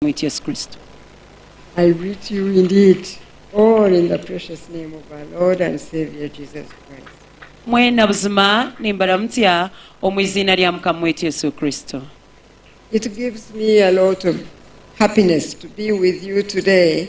Omukama waitu Yesu Kristo. I greet you indeed all in the precious name of our Lord and Saviour Jesus Christ. Mwena buzima nimbaramutsya omu iziina rya Mukama waitu Yesu Kristo. It gives me a lot of happiness to be with you today.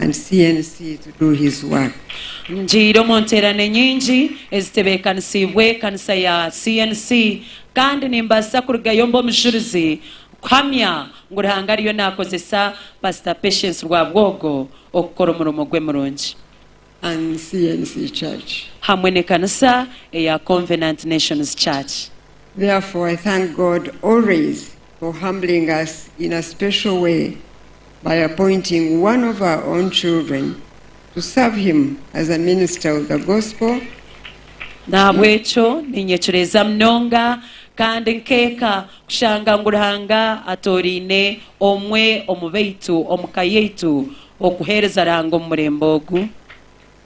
and CNC to do his work. Ngiire omu nteerane nyingi ezitebeekanisiibwe ekanisa ya CNC kandi nimbaasa kurugayo mbe omujurizi kuhamya ngu Ruhanga ariyo naakozesa Pastor Patience Rwabwogo okukora omurimo gwe murungi. and CNC Church. hamwe n'ekanisa eya Convenant Nations Church. Therefore I thank God always. for humbling us in a special way by appointing one of our own children to serve him as a minister of the gospel Nahabwekyo ninyecureeza munonga kandi nkeeka kushanga ngu Ruhanga atooraine omwe omu baitu omu ka yaitu okuheereza Ruhanga omu murembe ogu.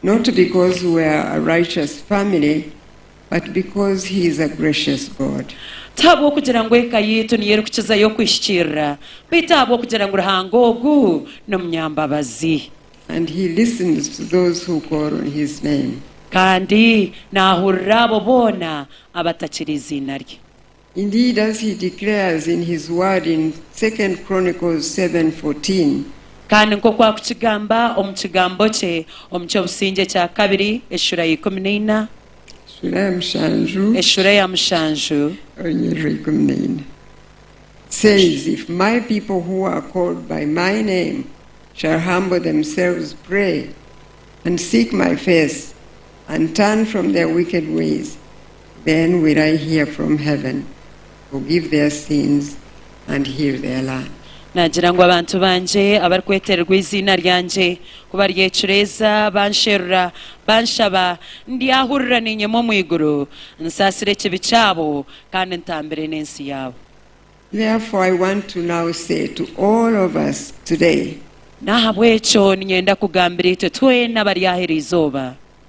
not because we are a righteous family but because he is a gracious God. Ti ahabw'okugira ngu eka yaitu niyo erikukizayo okwihikirira, beitu ahabw'okugira ngu Ruhanga ogu n'omunyambabazi. And he listens to those who call on his name. Kandi naahurira abo boona abatakira eiziina rye. Indeed as he declares in his word in Second Chronicles seven fourteen. Kandi nk'oku akukigamba omu kigambo kye omu ky'obusingye ekya kabiri, eshura ya ikumi na ina, Sura ya mushanju, eshura eya mushanju, orunyiriri ikumi na ina, says, If my people who are called by my name shall humble themselves, pray, and seek my face, and turn from their wicked ways, Then will I hear from heaven, forgive their sins, and heal their land. Naagira ngu, Abantu bangye abarikwetererwa eiziina ryangye, ku baryecureeza, bansherura, banshaba, ndyahurira niinyema omu iguru, nsaasire ekibi kyabo, kandi ntambire n'ensi yaabo. Therefore I want to now say to all of us today. N'ahabw'ekyo niinyenda kugambira itwe twena abari aha iri izooba.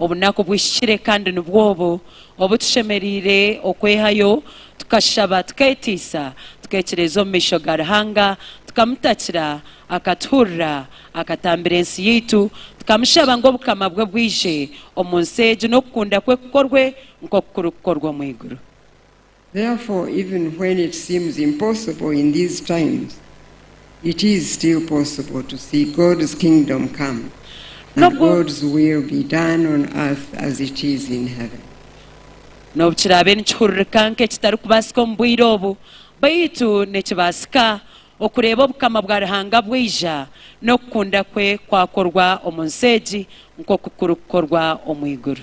obunaku buhikire kandi nibwo obu obu tushemereire okwehayo tukashaba, tukeetiisa, tukeekireeza omu maisho ga Ruhanga, tukamutakira akatuhurira, akatambira ensi yaitu, tukamushaba ngu Obukama bwe bwije omu nsi egi n'okukunda kwe kukorwe nk'oku kurikukorwa omu iguru. Therefore even when it seems impossible in these times, it is still possible to see God's kingdom come and N'obu- God's will be done on earth as it is in heaven. N'obu kiraabe nikihuririka nk'ekitarikubaasika omu bwire obu, baitu nikibaasika okureeba Obukama bwa Ruhanga bwaija n'okukunda kwe kwakorwa omu nsi egi nk'oku kurikukorwa omu iguru.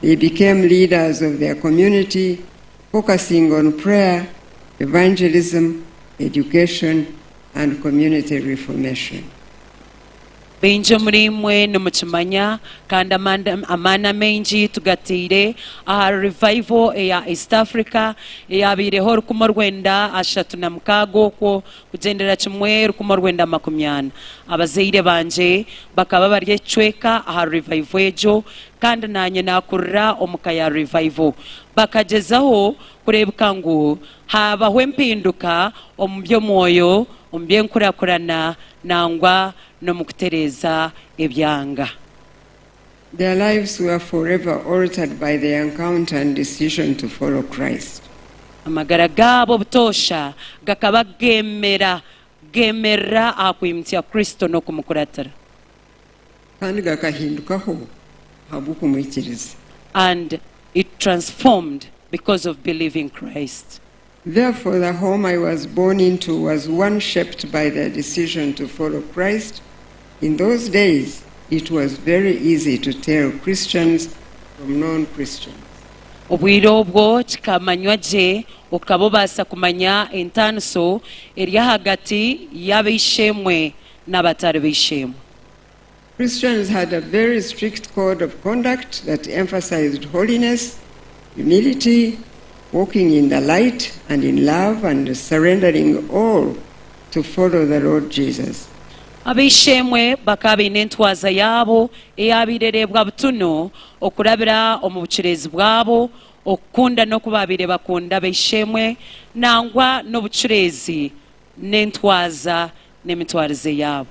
they became leaders of their community focusing on prayer, evangelism, education and community reformation. Baingi omuriimwe nimukimanya kandi amaani amaingi tugataire aha revival eya East Africa eyabaireho orukumi orwenda ashatu na mukaaga okwo Kugyendera kimwe rukumi orwenda makumi ana, abazaire bangye bakaba bari ekicweka aha Revival egyo kandi naanye naakurira omu ka ya Revival. Bakagyezaho kureebeka ngu haabaho empinduka omu by'omwoyo, omu by'enkurakurana, nangwa n'omu kutereeza ebyanga. Their lives were forever altered by their encounter and decision to follow Christ. Amagara gaabo butoosha gakaba geemera geemerera aha kwimutsya Kristo n'okumukuratira. Kandi gakahindukaho ahabw'okumwikiriza. And it transformed because of believing Christ. Therefore the home I was born into was one shaped by the decision to follow Christ, in those days it was very easy to tell Christians from non Christians. Obwire obwo kikamanywa gye okaba obaasa kumanya entaaniso eri ahagati y'ab'eishe-emwe n'abatari b'eishe-emwe. Christians had a very strict code of conduct that emphasized holiness, humility, walking in the light and in love and surrendering all to follow the Lord Jesus. Ab'eishe-emwe bakaba baine entwaza yaabo eyaabaire ereebwa butunu okurabira omu bucureezi bwabo, okukunda n'oku baabaire bakunda ab'eishe-emwe, nangwa n'obucureezi n'entwaza n'emitwarize yaabo.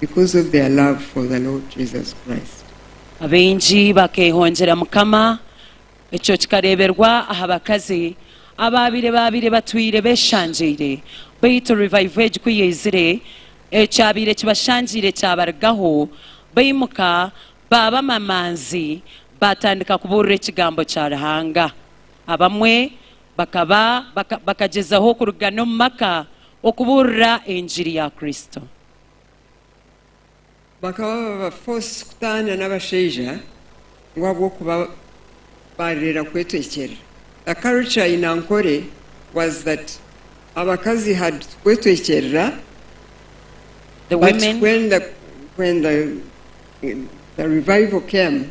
because of their love for the Lord Jesus Christ. Abaingi bakeehongyera Mukama. Ekyo kikareeberwa aha bakazi abaabaire baabaire batwire beeshangyeire, beitu revival egi ku yaizire, ekyabaire kibashangyeire kyabarigaho, baimuka baaba amamanzi, baatandika kubuurira ekigambo kya Ruhanga. Abamwe bakaba bakagyezaho kurugana omu maka Okubuurira engiri ya Kristo. Bakaba baba forced kutaana n'abashaija ngu ahabw'okuba baarera kwetwekyerera. The culture in Ankole was that abakazi had to kwetwekyerera The but women. when the when the the revival came